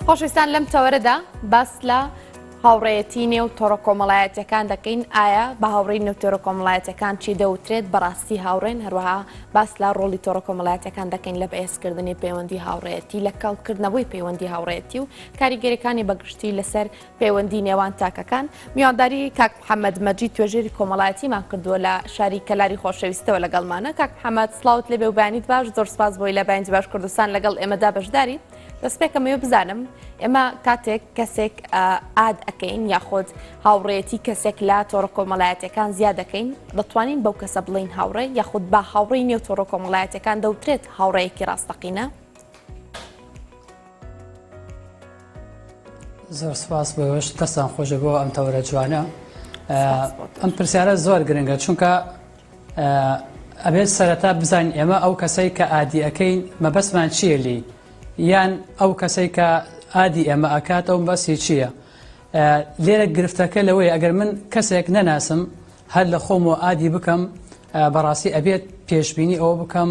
خۆشویستان لەم تەوەرەدا باس لە هاوڕێەتی نێو تۆڕە کۆمەڵایەتەکان دەکەین ئایا بە هاوڕی نەوتۆرە کۆمەڵایەتەکان چی دەوترێت بەڕاستی هاوڕێن هەروەها باس لە ڕۆڵی تۆڕە کۆمەڵایەتەکان دەکەین لە بەهێزکردنی پەیوەندی هاوڕێەتی لە کەڵکردنەوەی پەیوەندی هاوڕێەتی و کاریگەریەکانی بەگشتی لەسەر پەیوەندی نێوان تاکەکان، میوانداری کاک محەمەد مەجید توێژەری کۆمەڵایەتیمان کردووە لە شاری کەلاری خۆشەویستەوە لەگەڵمانە کاک محەمەد سڵاوت لێبێ و بەیانیت باش زۆر سپاس بۆی لە بەیانجی باش کوردستان لەگەڵ ئێمەدا بەشداری دەستپێکەمەوە بزانم ئێمە کاتێک کەسێک ئاد ئەەکەین یاخۆت هاوڕێتی کەسێک لە تۆڕە کۆمەڵایەتەکان زیاد دەکەین دەتوانین بەو کەسە بڵین هاوڕێ یاخود با هاوڕێی نێو تۆڕە کۆمەڵایەتەکان دەوترێت هاوڕێیەکی ڕاستەقینە زۆر سپاس بۆ ئێوەش دەستان خۆش بۆ ئەم تەوەرە جوانە ئەم پرسیارە زۆر گرنگە چونکە ئەبێت سەرەتا بزان ئێمە ئەو کەسەی کە ئادی ئەەکەین مەبەستمان چییە لی یان ئەو کەسەی کە ئادی ئێمە ئەکات ئەو بەسی چییە لێرە گرفتەکە لەوەی ئەگەر من کەسێک نەناسم هەر لە خۆم و ئادی بکەم بەڕاستی ئەبێت پێشببینی ئەوە بکەم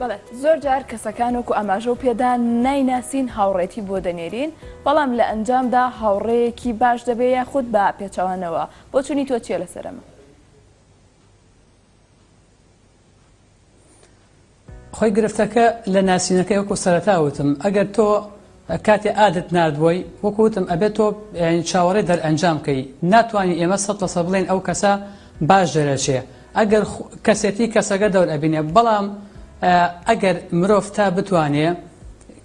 بەڵێ زۆر جار کەسەکان وەکو ئاماژە و پێدا نایناسین هاوڕێتی بۆ دەنێرین بەڵام لە ئەنجامدا هاوڕێیەکی باش دەبێ یاخود بە پێچەوانەوە بۆچونی تۆ چیە لەسەر ئەمە؟ خۆی گرفتەکە لە ناسینەکەی وەکو سەرەتا وتم ئەگەر تۆ کاتێ ئادت ناردبووی وەکو وتم ئەبێ تۆ چاوەڕێ دەرئەنجام کەی ناتوانی ئێمە سەد لەسەد بڵێن ئەو کەسە باش دەرەچێ ئەگەر کەسێتی کەسەگە دەور ئەبینێ بەڵام ئەگەر مرۆڤ تا بتوانێ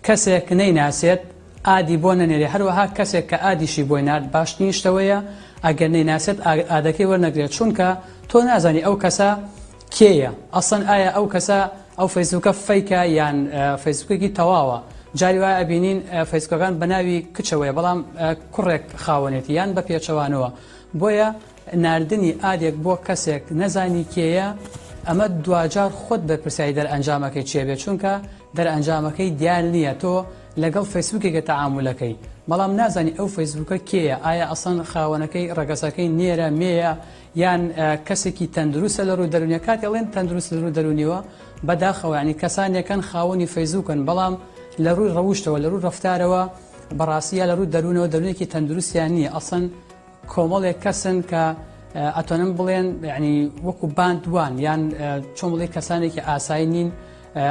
کەسێک نەیناسێت ئادی بۆ نەنێرێ هەروەها کەسێک کە ئادیشی بۆی نرد باشتنیشتەوەیە ئەگەر نەیناسێت ئادەکەی وەرنەگرێت چونکە تۆ نازانی ئەو کەسە کێیە ئەسڵەن ئایا ئەو کەسە ئەو فەیسبوکە فەیکە یان فەیسبوکێکی تەواوە جاری وایە ئەبینین فەیسکەکان بە ناوی کچەوەیە بەڵام کوڕێک خاوەنێتی یان بە پێچەوانەوە بۆیە ناردنی ئادێک بۆ کەسێک نەزانی کێیە ئەمە دواجار خۆت بەرپرسیاری دەرئەنجامەکەی چێ بێ چونکە دەرئەنجامەکەی دیار نییە تۆ لەگەڵ فەیسبوکێکە تەعامولەکەی بەڵام نازانی ئەو فەیسبوکە کێیە ئایا ئەسەن خاوەنەکەی ڕەگەسەکەی نێرە مێیە یان کەسێکی تەندروستە لە روی دەرونیە کاتێ ئەڵێن تەندروست لە روی دەرونیەوە بەداخەوە یانی کەسانێکن خاوەنی فەیزوکن بەڵام لە روی رەوشتەوە لە روی رەفتارەوە بەڕاستی یا لە روی دەرونەوە دەرونێکی تەندروستیان نیە ئەسڵەن کۆمەڵێک کەسن کە ئەتۆنم بڵێن یعنی وەکو باند وان یان چۆن بڵێ کەسانێکی ئاسایی نین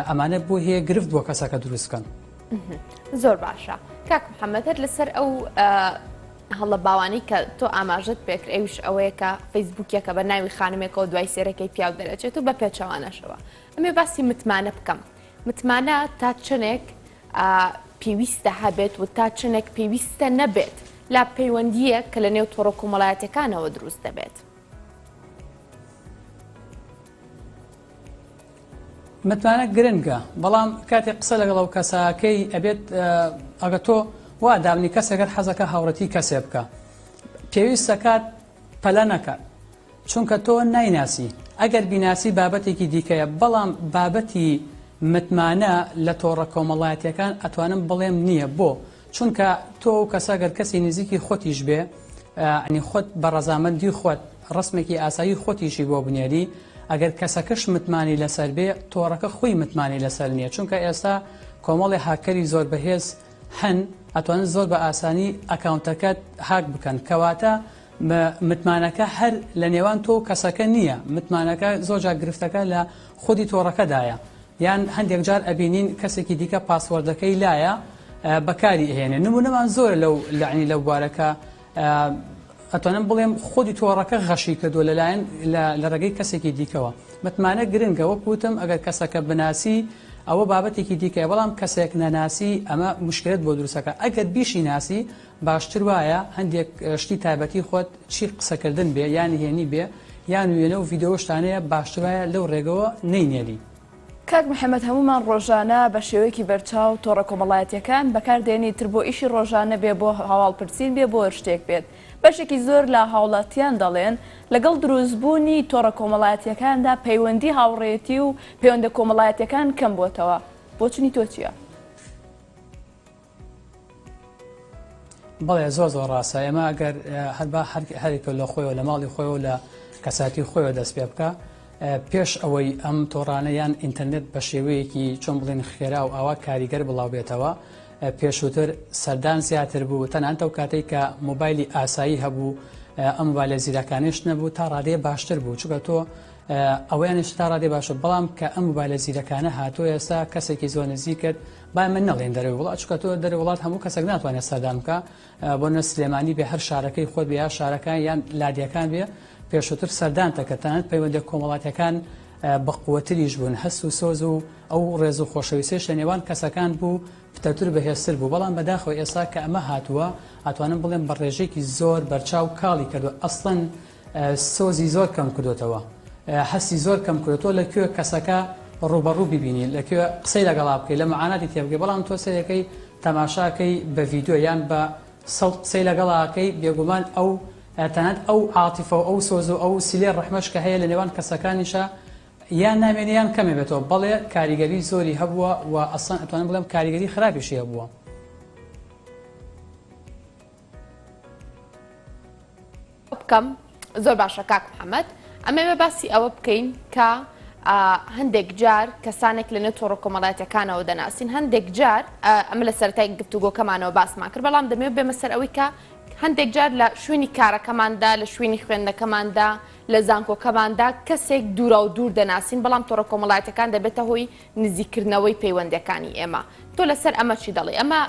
ئەمانە بۆ هەیە گرفت بۆ کەسەکە دروستکەن زۆر باشە کاک محەممەد هەر لەسەر ئەو هەڵە باوانەی کە تۆ ئاماژەت پێکرد ئەوش ئەوەیە کە فەیسبوکیەکە بە ناوی خانمێکەوە دوای سێرەکەی پیاو دەرەچێت و بە پێچەوانەشەوە ئەمێ باسی متمانە بکەم متمانە تا چنێک پێویستە هەبێت و تا چنێک پێویستە نەبێت لا پەیوەندیە کە لە نێو تۆڕە کۆمەڵایەتەکانەوە دروست دەبێت. متمانە گرنگە بەڵام کاتێک قسە لەگەڵ ئەو کەسە کەی ئەبێت ئەگە تۆ وا دابنی کەسێکەت حەزەکە هاوڕەتی کەسێ بکە پێویستە کات پەلە نەکات چونکە تۆ نایناسی ئەگەر بیناسی بابەتێکی دیکەیە بەڵام بابەتی متمانە لە تۆڕە کۆمەڵایەتەکان ئەتوانم بڵێم نییە بۆ چونکە تۆ ئەو کەسە گەر کەسی نزیکی خۆتیش بێ عنی خۆت بە ڕەزامەندی خۆت ڕسمێکی ئاسایی خۆتیشی بۆ بنێری ئەگەر کەسەکەش متمانی لەسەر بێ تۆڕەکە خۆی متمانی لەسەر نییە چونکە ئێستا کۆمەڵی هاکەری زۆر بەهێز هەن ئەتوانن زۆر بە ئاسانی ئەکاونتەکەت هاک بکەن کەواتە متمانەکە هەر لە نێوان تۆ کەسەکە نییە متمانەکە زۆرجا گرفتەکە لە خودی تۆڕەکەدایە یان هەندێک جار ئەبینین کەسێکی دیکە پاسوەردەکەی لایە بەکاری ئەهێنێ نمونەمان زۆرە لەو لەعنی لەو بوارەکە ئەتوانم بڵێم خودی تۆڕەکە غەشی کردو لەلایەن لە ڕێگەی کەسێکی دیکەوە متمانە گرنگە وەک وتم ئەگەر کەسەکە بناسی ئەوە بابەتێکی دیکە بەڵام کەسێک نەناسی ئەمە مشکلت بۆ دروستەکە ئەگەر بیشی ناسی باشتر وایە هەندێک شتی تایبەتی خۆت چی قسەکردن بێ یا نهێنی بێ یان وێنە و ڤیدۆ شتانەیە باشتر وایە لەو ڕێگەوە نەینێری. کاک محمد هەموومان ڕۆژانە بە شێوەیەکی بەرچاو تۆڕە کۆمەڵایەتیەکان بەکار دێنین تر بۆ ئیشی ڕۆژانە بێ بۆ هەواڵ پرسین بێ بۆ هەرشتێک بێت بەشێکی زۆر لە هاوڵاتیان دەڵێن لەگەڵ دروست بوونی تۆڕە کۆمەڵایەتیەکاندا پەیوەندی هاوڕێتی و پەیوەندە کۆمەڵایەتیەکان کەم بۆتەوە بۆچونی تۆ چیە؟ بەڵێ زۆر زۆر ڕاستە ئێمە ئەگەر هەر با هەرێکە لە خۆیەوە لە ماڵی خۆیەوە لە کەساتی خۆیەوە دەست پێ بکە پێش ئەوەی ئەم تۆڕانە یان ئینتەرنێت بە شێوەیەکی چۆن بڵێن خێرا و ئاوا کاریگەر بڵاو بێتەوە پێشووتر سەردان زیاتر بوو تەنانتە و کاتێک کە موبایلی ئاسایی هەبوو ئەم بالە زیرەکانیش نەبوو تا ڕادێ باشتر بوو چگە تۆ ئەویانش تا ڕادێ باشە بەڵام کە ئەم بالە زیرەکانە هاتوو ئێستا کەسێکی زۆر نزیکت با ئێمە نەڵێین دەرەوەی وڵات، چونکە تۆ دەرەوەی وڵات هەموو کەسێک ناتوانێت سەردان بکا، بۆنە سلێمانی بێ هەر شارەکەی خۆت بێ یا شارەکان یان لادێکان بێ پێشووتر سەردانتە کە تەنانەت پەیوەندیە کۆمەڵاتیەکان بەقوەتریش بوون هەست و سۆز و ئەو ڕێز و خۆشەویستێش لە نێوان کەسەکان بوو پتەتر بەهێزتر بوو بەڵام بەداخەوە ئێستا کە ئەمە هاتووە ئەتوانم بڵێم بە ڕێژێکی زۆر بەرچاو کاڵی کردو ئەسڵەن سۆزی زۆر کەم کردۆتەوە هەستی زۆر کەم کردۆ تۆ لە کوێ کەسەکە ڕووبەڕوو ببینی لە کوێ قسەی لەگەڵا بکەی لە معاناتی تێبگەی بەڵام تۆ سەیرەکەی تەماشاکەی بە ڤیدیۆ یان بە سەوت قسەی لەگەڵاکەی بێگومان ئەو تەنانەت ئەو عاتیفە و ئەو سۆز و ئەو سیلەی ڕەحمەش کە هەیە لە نێوان کەسەکانیشا یان نامێنێ یان کەمێ بێتەوە بەڵێ کاریگەری زۆری هەبووە و ئەسڵەن ئەتوانم بڵێم کاریگەری خراپیشی هەبووە. بکەم زۆر باشە کاک محمد ئەمەوێ باسی ئەوە بکەین کە هەندێک جار کەسانێک لە نێتۆڕە کۆمەڵاتەکانەوە دەناسین هەندێک جار ئەمە لە سەرای گفتوگۆکەمانەوە باسمان کرد بەڵام دەمێ بێمە سەر ئەوەی کە هەندێک جار لە شوێنی کارەکەماندا لە شوێنی خوێندنەکەماندا لە زانکۆکەماندا کەسێک دوورا و دوور دەناسین بەڵام تۆڕە کۆمەڵاتەکان دەبێتە هۆی نزیکردنەوەی پەیوەندەکانی ئێمە تۆ لەسەر ئەمە چی دەڵێ ئەمە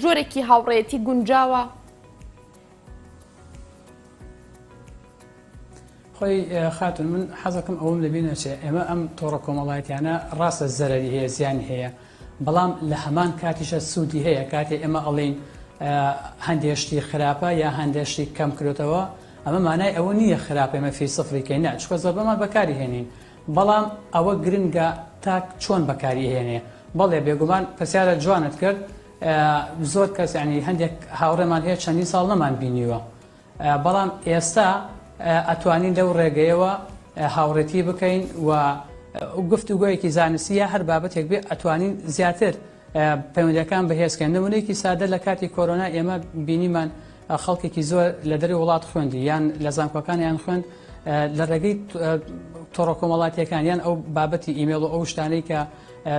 جۆرێکی هاوڕێتی گونجاوە خۆی خاتون من حەزەکەم ئەوم لەبی نەچێ ئێمە ئەم تۆڕە کۆمەڵایەتیانە ڕاستە زەرری هەیە زیانی هەیە بەڵام لە هەمان کاتیشە سوودی هەیە کاتێ ئێمە ئەڵین هەندێشتی خراپە یا هەندێشتی کەم کرێتەوە ئەمە مانای ئەوە نییە خراپێمە فی سفریکەی نە چکە زەبەمان بەکاری هێنین بەڵام ئەوە گرنگە تاک چۆن بەکاری هێنێ بەڵێ بێگومان پرسیارە جوانت کرد زۆر کەس یانی هەندێک هاوڕێمان هەیە چەندین ساڵ نەمان بینیوە بەڵام ئێستا ئەتوانین لەو ڕێگەیەوە هاوڕێتی بکەین و گفت و گوۆیەکی زانستیە هەر بابەتێک بێ ئەتوانین زیاتر پەیوەندەکان بەهێزکەن نمونێکی سادە لە کاتی کۆرۆنا ئێمە بینیمان خەڵکێکی زۆر لە دەری وڵات خوێندی یان لە زانکۆکان یان خوێند لە ڕێگەی تۆڕۆکۆمەڵاتیەکان یان ئەو بابەتی ئیمێڵ و ئەو شتانەی کە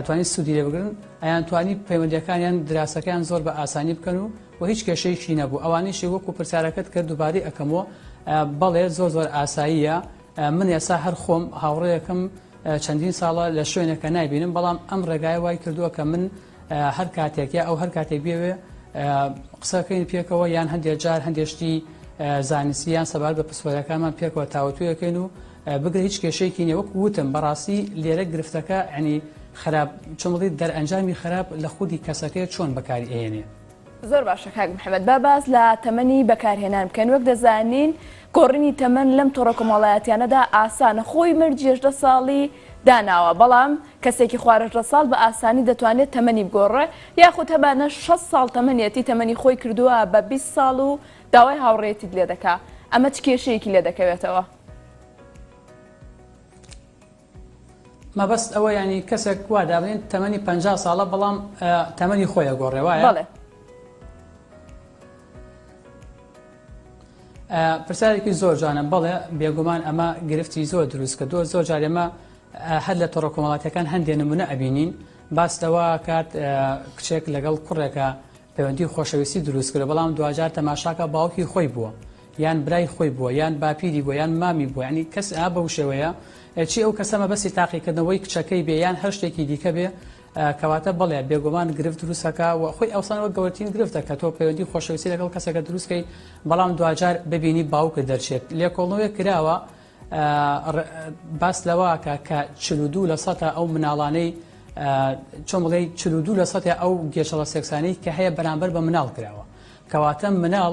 توانی سودی لێ بگرن ئەیان توانی پەیوەندەکانیان دراسەکەیان زۆر بە ئاسانی بکەن و و هیچ کێشەیەکی نەبوو ئەوانیشی وەکو پرسیارەکەت کرد دووباری ئەەکەمەوە بەڵێ زۆر زۆر ئاساییە من ئێسا هەر خۆم هاوڕەیەکم چەندین ساڵە لە شوێنەکە نایبینم بەڵام ئەم ڕێگای وای کردووە کە من هەر کاتێک یا ئەو هەر کاتێک بێوێ قسەکەین پێکەوە یان هەندێک جار هەندێشتی زانسییان سەبار بە پسپۆرەکانمان پێکەوە تاوتویەکەین و بگرە هیچ کێشەیەکی نیە وەکو وتم بەڕاستی لێرە گرفتەکە عنی خراپ چۆنڵی دەرئەنجامی خراپ لە خودی کەسەکەی چۆن بەکاری ئەهێنێ. زۆر باشە کاک محمد با باس لە تەمەنی بەکارهێنان بکەین وەک دەزانین گۆڕینی تەمەن لەم تۆڕە کۆمەڵایەتیانەدا ئاسانە خۆی مەرجی هەژدە ساڵی داناوە بەڵام کەسێکی خوار هەژدە ساڵ بە ئاسانی دەتوانێت تەمەنی بگۆڕێ یاخود هەبانە شەست ساڵ تەمەنیەتی تەمەنی خۆی کردووە بە بیست ساڵ و داوای هاوڕێیەتیت لێ دەکا ئەمە چ کێشەیەکی لێ دەکەوێتەوە؟ مەبەست ئەوە ینی کەسێک وا دابنین تەمەنی پ ساڵە بەڵام تەمەنی خۆیە گۆڕێ وایە پرسیارێکی زۆر جوانە بڵێ بێگومان ئەمە گرفتی زۆر دروست کە دۆ زۆر جارێمە هەر لە تۆڕە کۆمەڵاتەکان هەندێ نمونە ئەبینین باس لەوە کات کچێک لەگەڵ کوڕێکە پەیوەندی خۆشەویستی دروست کرد بەڵام دوجار تەماشاکە باوکی خۆی بووە یان برای خۆی بووە یان باپیری بووە یان مامی بووە یانی کەس ئا بەو شێوەیە چی ئەو کەسە مەبەستی تاقیکردنەوەی کچەکەی بێ یان هەر شتێکی دیکە بێ کەواتە بەڵێ بێگومان گرفت دروستەکە و خۆی ئەوسانەوە گەورترین گرفتە کە تۆ پەیوەندی خۆشەویستی لەگەڵ کەسەکە دروستکەی بەڵام دواجار ببینی باوکە دەرچێت لێکۆڵنەوەی کراوە باس لەواکە کە چلودوو لە سەتا ئەو مناڵانەی چۆن بڵێ چلودوو لە سەتی ئەو گێشەڵە سێکسانی کە هەیە بەرامبەر بە مناڵ کراوە کەواتە مناڵ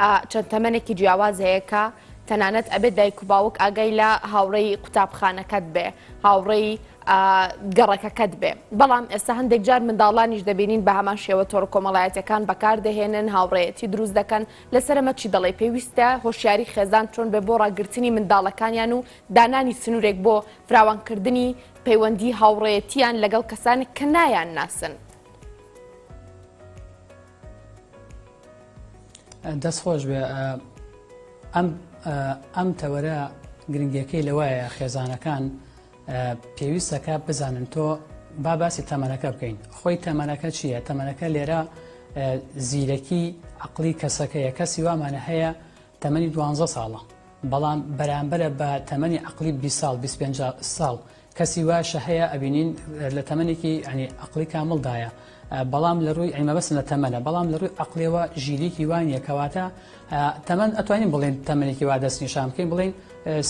ئا چەند تەمەنێکی جیاواز هەیە کە تەنانەت ئەبێت دایک و باوک ئاگای لە هاوڕێی قوتابخانەکەت بێ هاوڕێی گەڕەکەکەت بێ بەڵام ئێستا هەندێک جار منداڵانیش دەبینین بە هەمان شێوە تۆڕ کۆمەڵایەتەکان بەکاردەهێنن هاوڕێەتی دروست دەکەن لەسەرمە چی دەڵی پێویستە هۆشیاری خێزان چۆن بێ بۆ ڕاگررتنی منداڵەکانیان و دانانی سنوورێک بۆ فراوانکردنی پەیوەندی هاوڕێەتیان لەگەڵ کەسانێک کە نایان ناسن. دەست خۆش بێ ئەم ئەم تەوەرە گرنگەکەی لەوایە خێزانەکان پێویستەکە بزانن تۆ با باسی تەمەەکە بکەین خۆی تەمەەکە چییە تەمەەکە لێرە زیرەکی عقلی کەسەکەیە کەسی وامانە هەیە تەمەنی دوانزە ساڵە بەڵام بەرامبەرە بە تەمەنی عقلی بی ساڵ بیست پێنج ساڵ کەسی واشە هەیە ئەبینین لە تەمەنێکی ئەنی عقلی کامڵدایە بەڵام لە ڕووی ئەیمە بەسن لە تەمەە بەڵام لە ڕووی عقلەوە ژیریکی وانە کەواتە تەمەەن ئەتوانین بڵێن تەمەێکی وا دەست نیشان بکەین بڵین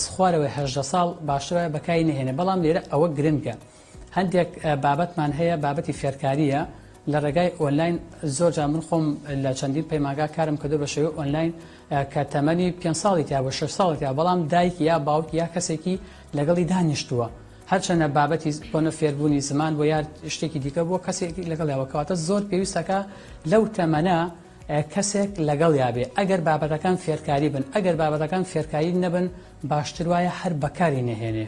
سخوارەوەی هەژدە ساڵ باشترە بەکاری نهێنێ بەڵام لێرە ئەوە گرنگە هەندێک بابەتمان هەیە بابەتی فێرکارییە لە ڕێگای ئۆنلاین زۆر جا من خۆم لە چەندین پەیماگا کارم کردو بە شێوەی ئۆنلاین کە تەمەنی پێ ساڵی تیا بۆ شش ساڵی تیا بەڵام دایک یا باوک یا کەسێکی لەگەڵی دانیشتووە هەرچەنە بابەتی بۆنە فێربوونی زمان بۆ یار شتێکی دیکە بۆ کەسێکی لەگەڵ یاوەکەواتە زۆر پێویستەکە لەو تەمەە کەسێک لەگەڵ یابێ ئەگەر بابەتەکان فێرکاری بن ئەگەر بابەتەکان فێرکاری نەبن باشتر وایە هەر بەکاری نەهێنێ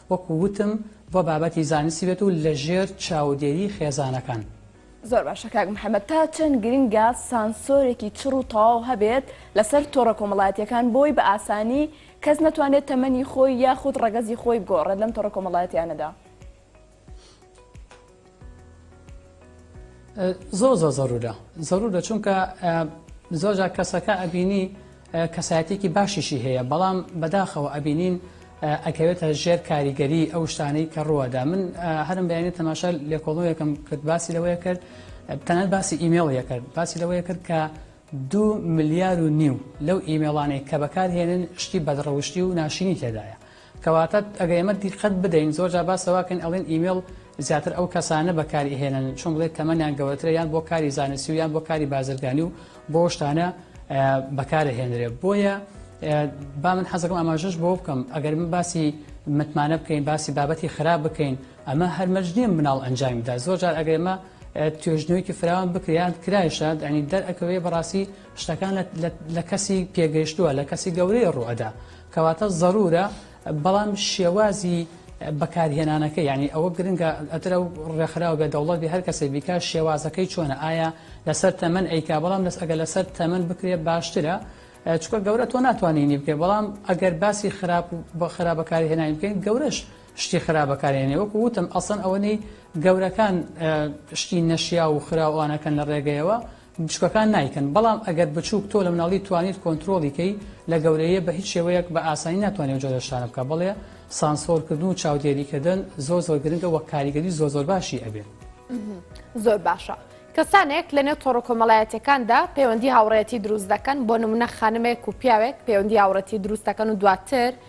وەکو وتم بۆ بابەتی زانستی بێت و لە ژێر چاودێری خێزانەکان. زۆر باشە کاک محمد تا چەند گرنگە سانسۆرێکی چڕ و تەواو هەبێت لەسەر تۆڕە کۆمەڵایەتیەکان بۆی بە ئاسانی کەس نەتوانێت تەمەنی خۆی یاخود ڕەگەزی خۆی بگۆڕێت لەم تۆڕە کۆمەڵایەتیانەدا؟ زۆر زۆر زەرورە زەرورە چونکە زۆرجا کەسەکە ئەبینی کەسایەتێکی باشیشی هەیە بەڵام بەداخەوە ئەبینین ئەکەوێتە ژێر کاریگەری ئەو شتانەی کە ڕوەدا من هەرم بەیانی تەماشا لێکۆڵنەوەیەکەم کرد باسی لەوەیە کرد تەنەت باسی ئیمێڵ یەکرد باسی لەوەیە کرد کە دوو ملیار و نیو لەو ئیمێڵانەی کە بەکارهێنن شتی بەدڕەوشتی و ناشرینی تێدایە کەواتە ئەگەر ئێمە دیقەت بدەین زۆر جار باس لەوەکەین ئەڵێن ئیمێڵ زیاتر ئەو کەسانە بەکاری ئەهێنن چۆن بڵێ تەمەنیان گەورەترە یان بۆ کاری زانستی و یان بۆ کاری بازرگانی و بۆ شتانە بەکارهێنرێت بۆیە با من حەزەکەم ئاماژەش بۆ بکەم ئەگەر من باسی متمانە بکەین باسی بابەتی خراپ بکەین ئەمە هەر مەرج نیە مناڵ ئەنجامی بدات زۆر جار ئەگەر ئەمە توێژنەوەیەکی فراوان بکرێت یان کرایشە ئەنی دەرئەکەوێ بەڕاستی شتەکان لە کەسی پێگەیشتووە لە کەسی گەورەی ڕوئەدا کەواتە ضرورە بەڵام شێوازی بەکارهێنانەکە یعنی ئەوە گرنگە ئەترە ڕێکخراو بێ دەوڵەت بێ هەر کەسێ بیکە شێوازەکەی چۆنە ئایا لەسەر تەمەەن ئەیکا بەڵام لەس ئەگە لەسەر تەمەەن بکرێ باشترە چکە گەورە تۆ ناتوانینی بکە بەڵام ئەگەر باسی خراپ بە خراپەکاری هێنانی بکەین گەورەش شتی خراپ بەکارهێنێ وەکو وتم ئەسڵەن ئەوەنەی گەورەکان شتی نەشیاو و خراو ئەوانەکەن لە ڕێگەیەوە بچووکەکان نایکەن بەڵام ئەگەر بچووک تۆ لە مناڵی توانیت کۆنتترۆڵی کەی لە گەورەیە بە هیچ شێوەیەک بە ئاسانی ناتوانێت و جۆرە شتانە بکە بڵێ سانسۆرکردن و چاودێریکردن زۆر زۆر گرنگە وە کاریگەری زۆر زۆر باشی ئەبێ زۆر باشە. کەسانێک لە نێو تۆڕە کۆمەڵایەتەکاندا پەیوەندی هاوڕێتی دروست دەکەن بۆ نمونە خانمێک و پیاوێک پەیوەندی هاوڕەتی دروستەکەن و دواتر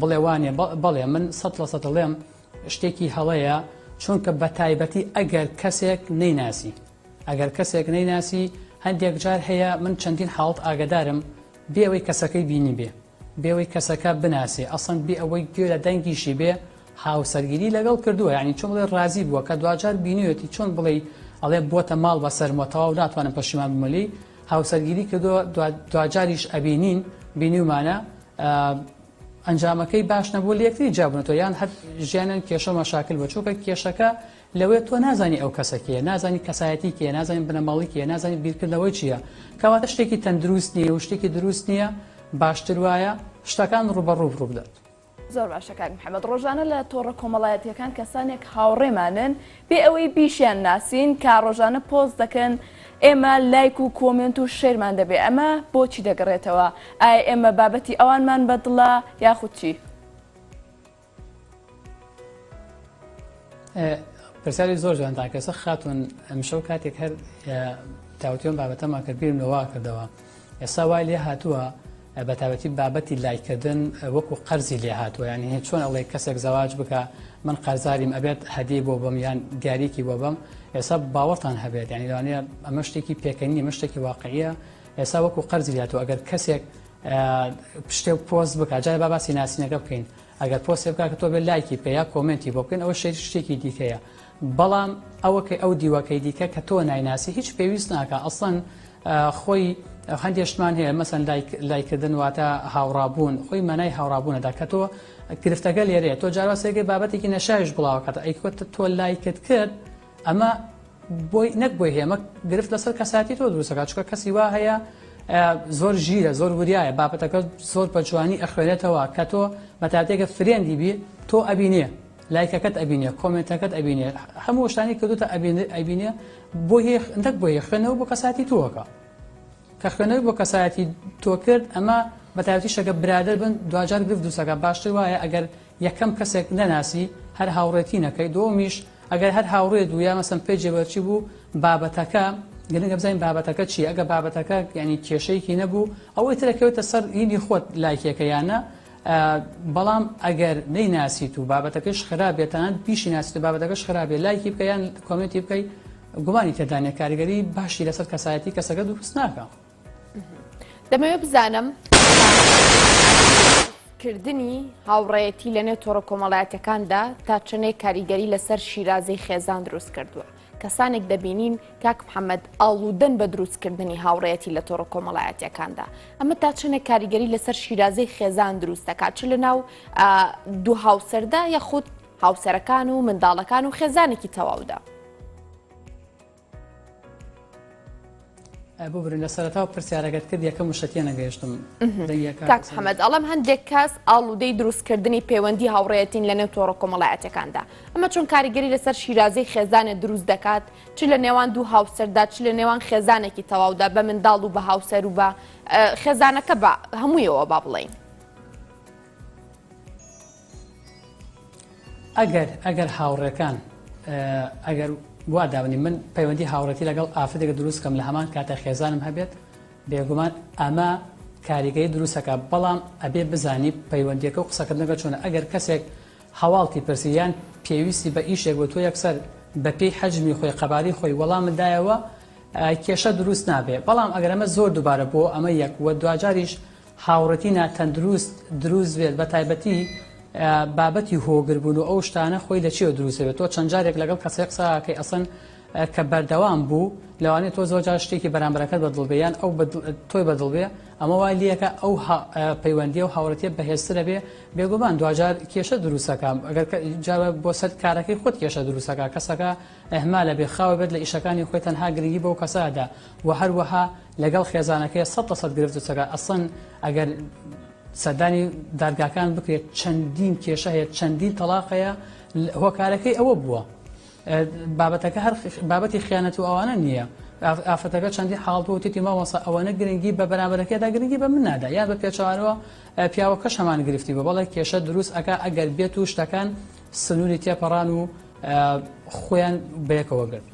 بڵێ وانیە بەڵێ من سەت لەسەت دەڵێم شتێکی هەڵەیە چونکە بە تایبەتی ئەگەر کەسێک نەیناسی ئەگەر کەسێک نەیناسی هەندێک جار هەیە من چەندین حاڵت ئاگدارم بێەوەی کەسەکەی بینی بێ بێەوەی کەسەکە بناسێ ئەسەن بێ ئەوەی گوێ لە دەنگیشی بێ هاوسەرگیری لەگەڵ کردووە ینی چۆن بڵێ ڕازی بووە کە دوجار بینیوێتی چۆن بڵێ ئەڵێ بۆتە ماڵ بە سەرمە تەواو ناتوانم پەشیمان بمەلی هاوسەرگیری کردووە دوجاریش ئەبینین بینیومانە ئەنجامەکەی باش نەبوو لە یەکتری جیابوونەتەوە یان هەر ژیانیان کێشە و مەشاکل بوو چونکە کێشەکە لەوەیە تۆ نازانی ئەو کەسە کێیە نازانی کەسایەتی کێیە نازانین بنەماڵەی کێیە نازانیت بیرکردنەوەی چییە کەواتە شتێکی تەندروست نییە و شتێکی دروست نییە باشتر وایە شتەکان ڕوبەڕوو ڕوو بدات. زۆر باشە کاک محەممەد ڕۆژانە لە تۆڕە کۆمەڵایەتیەکان کەسانێک هاوڕێمانن بێ ئەوەی بیشیان ناسین کە ڕۆژانە پۆست دەکەن ئێمە لایک و کۆمێنت و شێرمان دەبێ ئەمە بۆچی دەگەڕێتەوە ئایا ئێمە بابەتی ئەوانمان بە دڵە یاخود چی؟ پرسیاری زۆر جوانتان کەسە خاتون ئەمشەو کاتێک هەر تاوتوێن بابەتەما کرد بیرم لەوا کردەوە ئێستا وای لێ هاتووە بە تابەتی بابەتی لایکردن وەکو قەرزی لێ هاتووە یان هێ چۆن ئەڵێ کەسێک زەواج بکە من قەرزاریم ئەبێت هەدی بۆ بم یان دیارێکی بۆ بم ئێستا باوەڕتان هەبێت ینی لەوانەیە ئەمە شتێکی پێکەنی مشتێکی واقعە ئێستا وەکو قەرزی هاتوو ئەگەر کەسێک پشتێ پۆست بک جای با باسی ناسینەکە بکەین ئەگەر پۆستی بکە کە تۆ بێ لایکی پێ یا کۆمنتی بۆ بکەین ئەوە شێت شتێکی دیکەیە بەڵام ئەوەکەی ئەو دیوەکەی دیکە کە تۆ نایناسی هیچ پێویست ناکە ئەسڵەن خۆی هەندێ شتمان هەیە مەسەن لایکردن واتە هاوڕابوون خۆی مانای هاوڕابوونەدا کە تۆ گرفتەکە لێرەیە تۆ جاروا سێگەی بابەتێکی نەشاویش بڵاوکاتە ئەیکوت تۆ لایکت کرد ئەمە بۆی نەک بۆی هێمە گرفت لەسەر کەساتی تۆ دروستەکە چکە کەسی وا هەیە زۆر ژیرە زۆر وریایە بابەتەکە زۆر بە جوانی ئەخوێنێتەوە کە تۆ بەتاتێکە فرێندی بی تۆ ئەبینێ لایکەکەت ئەبینێ کۆمێنتەکەت ئەبینێ هەموو شتانی کردوتە ئەبینێ ئەبینێ بۆ نەک بۆ خوێنەوە بۆ کەساتی تۆکە کە خوێنەوەی بۆ کەسایەتی تۆ کرد ئەمە بەتاوتی شەکە برادر بن دوجار گرفت دوسەکە باشتر وایە ئەگەر یەکەم کەسێک نەناسی هەر هاوڕێتی نەکەی دۆمیش ئەگەر هەر هاوڕێ دوو یا مەسم پێ جێبەرچی بوو بابەتەکە گرنگە بزانین بابەتەکە چی ئەگە بابەتەکە ینی کێشەیەکی نەبوو ئەوەی ترەکەوێتە سەر هینی خۆت لایکێکە یانە بەڵام ئەگەر نەیناسیت و بابەتەکەش خراپ بێت تەنانەت بیشی ناسیت و بابەتەکەش خراپ بێت لایکی بکە یان کۆمێنتی بکەی گومانی تێدا نیە کاریگەری باشی لەسەر کەسایەتی کەسەکە دروست ناکە دەمەوێت بزانم کردنی هاوڕەتی لە نێو تۆڕە کۆمەڵایەتەکاندا تا چنێک کاریگەری لەسەر شیرازەی خێزان دروست کردووە کەسانێک دەبینین کاک محەممەد ئاڵودەن بە دروستکردنی هاوڕەتی لە تۆڕە کۆمەڵایەتەکاندا ئەمە تا چەنێک کاریگەری لەسەر شیرازەی خێزان دروست دەکات چ لە ناو دوو هاوسەردا یەخود هاوسەرەکان و منداڵەکان و خێزانێکی تەواودا. ببورن لە سەرەتاو پرسیارەکەت کرد یەکەم وشە تێنەگەیشتم کاک محەمەد ئەڵەم هەندێک کەس ئاڵودەی دروستکردنی پەیوەندی هاوڕێەتین لە نێو تۆڕە کۆمەڵایەتەکاندا ئەمە چۆن کاریگەری لەسەر شیرازەی خێزانە دروست دەکات چ لە نێوان دوو هاوسەردا چ لە نێوان خێزانێکی تەواودا بە منداڵ و بە هاوسەر و بە خێزانەکە بە هەموویەوە با بڵین ئەگەر ئەگەر هاوڕێکان ئەگەر وا دابنی من پەیوەندی هاوڕێتی لەگەڵ ئافرەتێکە دروست کەم لە هەمان کاتە خێزانم هەبێت بێگومان ئەمە کاریگەی دروستەکە بەڵام ئەبێ بزانی پەیوەندیەکە و قسەکردنەکە چۆنە ئەگەر کەسێک هەواڵتی پرسیان پێویستی بە ئیشێک بۆ تۆ یەکسەر بە پێی حەجمی خۆی قەباری خۆی وەڵامدایەوە کێشە دروست نابێ بەڵام ئەگەرمە زۆر دووبارە بۆ ئەمە یەک وە دواجاریش هاوڕێتی ناتەندروست دروست بێت بە تایبەتی بابەتی هۆگر بوون و ئەو شتانە خۆی لە چێوە دروست بێت تۆ چەند جارێک لەگەڵ کەسێک قسەکەی ئەسن کە بەردەوام بوو لەوانێت تۆ زۆر جار شتێکی بەرامبەرەکەت بەدڵ بێ یان ئەو تۆی بەدڵ بێ ئەمە وای لیەکە ئەو پەیوەندی و هاوڕێتیە بەهێزترە بێ بێگومان دوجار کێشە دروستەکە ئەگەر جار بۆ سەر کارەکەی خۆت کێشە دروستەکە کەسەکە ئەهما لە بێخاوە بێت لە ئیشەکانی خۆی تەنها گرنگی بەو کەسادا و هەروەها لەگەڵ خێزانەکەی سەد لە سەد گرفت و چەکە ئەسڵەن ئەگەر سەردانی دادگاکان بکرێت چەندین کێشە هەیە چەندین تەلاقەیە هۆکارەکەی ئەوە بووە بابەتەکە هەر بابەتی خیانەت و ئەوانە نییە ئافرەتەکە چەندی حاڵ بۆ تێتی مامەسا ئەوەنە گرنگی بە بەرامبەرەکەدا گرنگی بە من نادا یان بە پێچوانەوە پیاوەکەش هەمان گرفتی بۆ بەڵێ کێشە دروست ئەک ئەگەر بێت و شتەکان سنووری تێپەڕان و خۆیان بەیەکەوە گرت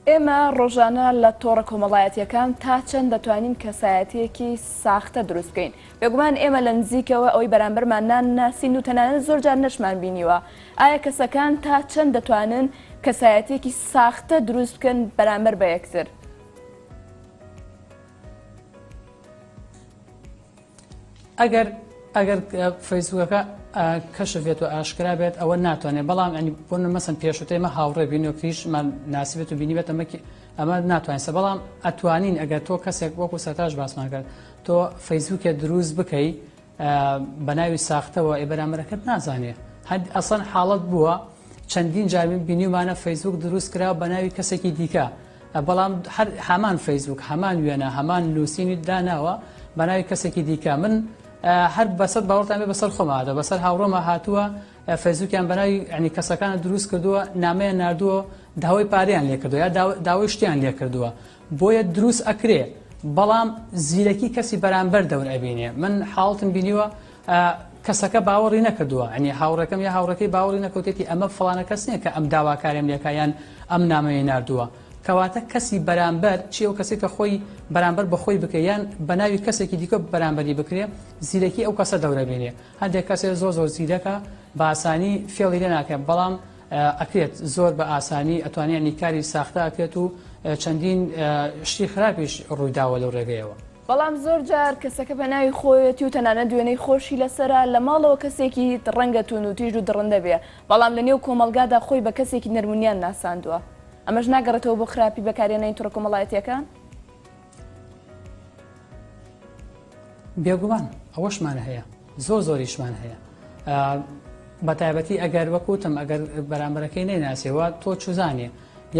ئێمە ڕۆژانە لە تۆڕە کۆمەڵایەتییەکان تا چەند دەتوانین کەسایەتییەکی ساختە دروست بکەین؟ بێگومان ئێمە لە نزیکەوە ئەوەی بەرامبەرمان نانناسین و تەنانەت زۆرجار نەشمان بینیوە. ئایا کەسەکان تا چەند دەتوانن کەسایەتییەکی ساختە دروست بکەن بەرامبەر بە یەکتر؟ ئەگەر ئەگەر فەیسبوکەکە کەشف بێت و ئاشکرا بێت ئەوە ناتوانێت بەڵام ئەنی بۆ مەسن پێشوتە ئمە هاوڕێ بینۆکریشمان ناسیبێت و بینیبێت ئەمەکی ئەمە ناتوانسە بەڵام ئەتوانین ئەگەر تۆ کەسێک وەکو سەتاش باسمان کرد تۆ فەیسبوکێ دروست بکەی بە ناوی ساختەوە ئێ بەرامەرەکەت نازانێت هەند ئەسەن حاڵت بووە چەندین جامی بینیمانە فەیسبوک دروست کرا بە ناوی کەسێکی دیکە بەڵام هەر هەمان فەیسبووک هەمان وێنە هەمان نووسینی داناوە بەناوی کەسێکی دیکە من هەر بەسەر باوەڕتانێ بەسەر خۆمادە بەسەر هاوڕۆمە هاتووە فەیسبووکیان بەناوی ئەنی کەسەکانە دروست کردووە نامەیە نردووە داوای پاریان لێ کردو یا داوای شتیان لێ کردووە بۆیە دروست ئەکرێ بەڵام زیرەکی کەسی بەرامبەر دەور ئەبینێ من حاڵتم بینیوە ئا کەسەکە باوەڕی نەکردووە عنی هاوڕێکەم یا هاوڕێکەی باوەڕی نەکەوتێتی ئەمە فڵانە کەس نیە کە ئەم داواکاریم لێکا یان ئەم نامەیەی ناردووە کەواتە کەسی بەرامبەر چی ئەو کەسی کە خۆی بەرامبەر بەخۆی بکە یان بەناوی کەسێکی دیکە بەرامبەری بکرێ زیرەکی ئەو کەسە دەورەبێنێ هەندێک کەسێ زۆر زۆر زیرەکە بە ئاسانی فێڵی لێ ناکەێت بەڵام ئەکرێت زۆر بە ئاسانی ئەتوانانی کاری ساختە ئەکرێت و چەندین شتی خراپیش ڕوویداوە لەو ڕێگەیەوە بەڵام زۆر جار کەسەکە بە ناوی خۆیەتی و تەنانەت وێنەی خۆشی لەسەرە، لە ماڵەوە کەسێکی ڕەنگە توندوتیژ و دڕندە بێ، بەڵام لە نێو کۆمەڵگادا خۆی بە کەسێکی نەرمونیان ناساندووە. ئەمەش ناگەڕێتەوە بۆ خراپی بەکارهێنانی تۆڕە کۆمەڵایەتییەکان؟ بێگومان ئەوەشمان هەیە، زۆر زۆریشمان هەیە. بە تایبەتی ئەگەر وەک وتم ئەگەر بەرامبەرەکەی نەیناسێ و تۆ چوزانێ،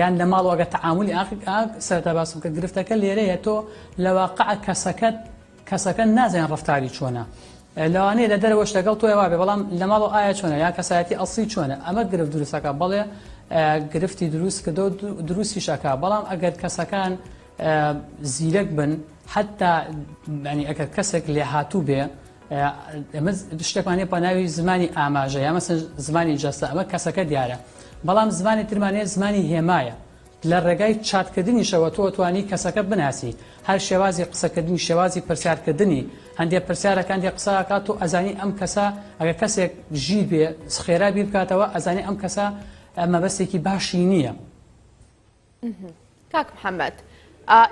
یان لە ماڵەوە ئەگەر تەعامولی ئاخ ئاگ سەرەتا باسم کرد گرفتەکە لێرەیە تۆ لە واقع کەسەکەت کەسەکە نازانێت ڕەفتاری چۆنە ئە، لەوانەیە لە دەرەوەش لەگەڵ تۆی وابێ بەڵام لە ماڵەوە ئایا چۆنە یان کەسایەتی ئەسڵی چۆنە ئەمە گرفت دروستەکە بەڵێ ئە، گرفتی دروست کردە و دو- دروستیش ئەکا بەڵام ئەگەر کەسەکان ئە، زیرەک بن حەتتا یانی ئەگەر کەسێک لێهاتوو بێ ئەمە شتێکمان هەیە پەناوی زمانی ئاماژە یا مەسن زمانی جەستە ئەمە کەسەکە دیارە بەڵام زمانی ترمانەیە زمانی هێمایە لە ڕێگای چاتکردنیشەوە تۆ توانی کەسەکە بناسی هەر شێوازی قسەکردنی شێوازی پرسیارکردنی هەندێک پرسیارەکان دێ قسەکات تۆ ئەزانی ئەم کەسە ئەگە کەسێک ژیر بێ خێرا بیر بکاتەوە ئەزانی ئەم کەسە مەبەستێکی باشی نییە. کاک محەمەد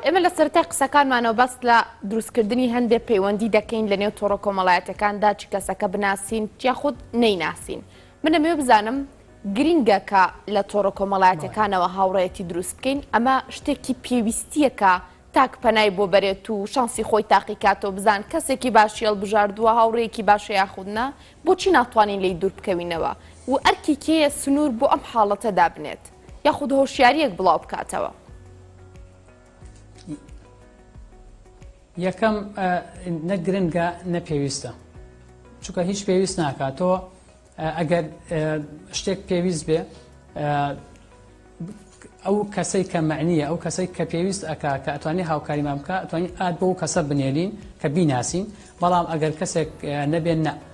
ئێمە لە سەرای قسەکانمانەوە بەست لە دروستکردنی هەندێک پەیوەندی دەکەین لە نێو تۆڕە کۆمەڵایەتەکاندا چ کەسەکە بناسین یاخود نەیناسین من ئەمێ بزانم گرینگە کە لە تۆڕە کۆمەڵایەتەکانەوە هاوڕێتی دروست بکەین ئەمە شتێکی پێویستیەکە تاک پەنای بۆ بەرێت و شانسی خۆی تاقیکاتەوە بزان کەسێکی باشی هەڵبژاردووە هاوڕێکی باشە یاخودنا بۆچی ناتوانین لی دوور بکەوینەوە و ئەرکێکەیە سنوور بۆ ئەم حاڵەتە دابنێت. یاخود هۆشیارییەک بڵاو بکاتەوە. یەکەم نە گرنگە نە پێویستە چونکە هیچ پێویست ناکات تۆ ئەگەر شتێک پێویست بێ ئەو کەسەی کە معنیە ئەو کەسەی کە پێویست ئەک کە ئەتوانی هاوکاریمان بکە ئەتوانین ئاد بۆ کەسە بنێرین کە بیناسین بەڵام ئەگەر کەسێک نەبێن نە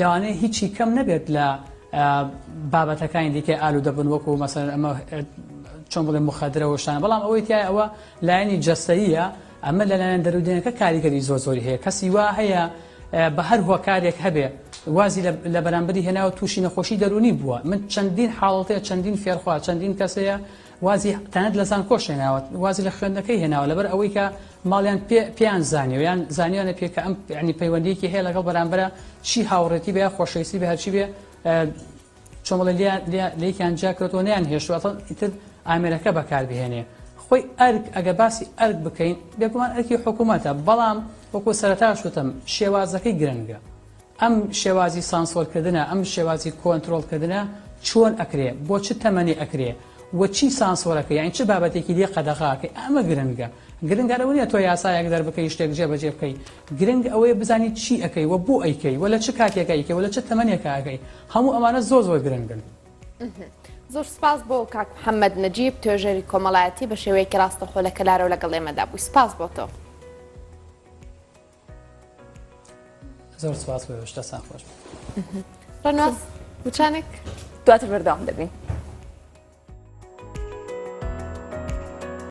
لەوانەیە هیچی کەم نەبێت لە بابەتەکانی دیکە ئالو دەبن وەکو مەسەر ئەمە چۆن بڵێ مخدرە وشتانە بەڵام ئەوەی تای ئەوە لایەنی جەستەیە ئەمە لە لایەن دەرودێنەکە کاریگەری زۆر زۆری هەیە کەسی وا هەیە بە هەر هۆکارێک هەبێ وازی لە بەرامبەری هێناوە تووشی نەخۆشی دەرونی بووە من چەندین حاڵەتەیە چەندین فێرخوا چەندین کەسەیە وازی تەنانەت لە زانکۆش هێناوە وازی لە خوێندنەکەی هێناوە لەبەر ئەوەی کە ماڵیان پێیان زانیەوە یان زانیانە پێ کە ئەم ینی پەیوەندیکی هەیە لەگەڵ بەرامبرە چی هاوڕێتی بە خۆشەویستی بە هەرچی بێ چۆمەڵە لێکیان جاکەوتەوە نیان هێشتوەتە ئیتر ئامێرەکە بەکاربهێنێ خۆی ئەرک ئەگە باسی ئەرک بکەین بێگومان ئەرکی حکوومەتە بەڵام وەکو سەرتاش وتم شێوازەکەی گرنگە ئەم شێوازی سانسۆر کردنە ئەم شێوازی کۆنترۆڵ کردنە چۆن ئەکرێ بۆ چ تەمەنی ئەکرێ وە چی سانسۆرەکە یانی چ بابەتێکی لێ قەدەغاکەی ئەمە گرنگە گرنگە لەوە نیە تۆ یاسایەک دەربکەی شتێک جێبەجێ بکەی گرنگ ئەوەیە بزانی چی ئەکەی وە بۆ ئەیکەی وە لە چ کاتێکە ئەیکەی وە لە چ تەمەنێکە ئەکەی هەموو ئەمانە زۆر زۆر گرنگن. زۆر سپاس بۆ کاک محەممەد نەجیب توێژەری کۆمەڵایەتی بە شێوەیەکی ڕاستەخۆ لە کەلارەوە لەگەڵ ئێمەدا بووی سپاس بۆ تۆ. زۆر سپاس بۆ هێشتا سان خۆش ڕەناز وچانێک دواتر بەردەوام دەبین.